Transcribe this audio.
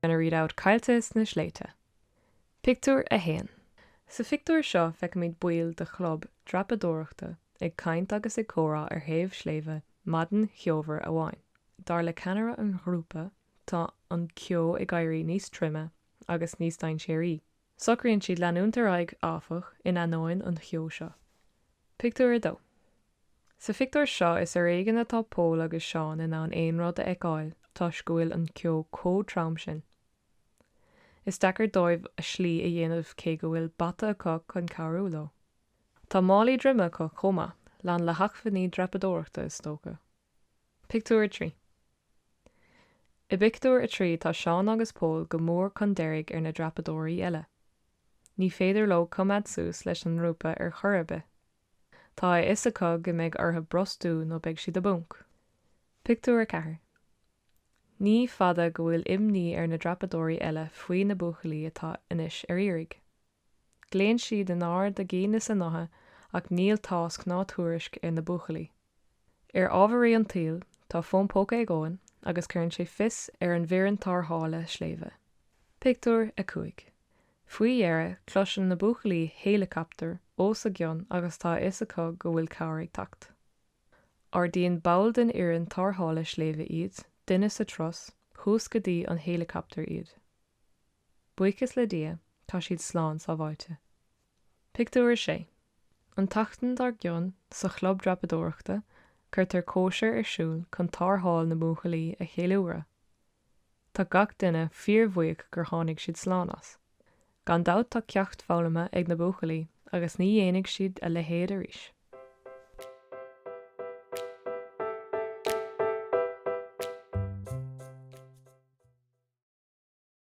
gonna read out caillte sna sléibhte. Pictiúr 1 Sa phictiúr seo feicimid baill de chlub dreapadóireachta ag caint agus ag comhrá ar thaobh sléibhe maidin cheomhar amháin. Dar le ceannaire an ghrúpa, tá an ceo ag éirí níos troime agus níos dainséaraí Socraíonn siad leanúint ar aghaidh, áfach, in ainneoin an cheo seo. Pictiúr 2 Sa phictiúr seo is ar éigean atá Pól agus Seán in ann aon rud a fheiceáil toisc go bhfuil an ceo chomh trom sin. Is deacair dóibh a slí a dhéanamh cé go bhfuil bata acu chun cabhrú leo. Tá málaí droime acu chomh maith, lán le hacmhainní dreapadóireachta is dócha. Pictiúr 3 I bpictiúr a trí tá Seán agus Pól go mór chun deiridh ar na dreapadóirí eile. Ní féidir leo coimeád suas leis an ngrúpa ar chor ar bith. Tá a fhios acu go mbeidh orthu brostú nó beidh siad i bponc. Pictiúr 4 Ní fada go bhfuil imní ar na dreapadóirí eile faoi na buachaillí atá anois ar iarraidh. Glaonn siad in ard a gcinn is a ngutha ach níl tásc ná tuairisc ar na buachaillí. Ar ámharaí an tsaoil, tá fón póca ag Eoin agus cuireann sé fios ar an bhfoireann tarrthála sléibhe. Pictiúr 5. Faoi dheireadh, cloiseann na buachaillí héileacaptar os a gcionn agus tá a fhios acu go bhfuil cabhair ag teacht. Ardaíonn ball den fhoireann tarrthála sléibhe iad, duine sa turas, suas go dtí an héileacaptar iad. Buíochas le Dia, tá siad slán sábháilte. Pictiúr 6 An tseachtain dar gcionn, sa chlub dreapadóireachta, cuirtear cóisir ar siúl chun tarrtháil na mbuachaillí a cheiliúradh. Tá gach duine fíorbhuíoch gur tháinig siad slán as. Gan dabht tá ceacht foghlamtha ag na buachaillí agus ní dhéanfaidh siad a leithéid arís.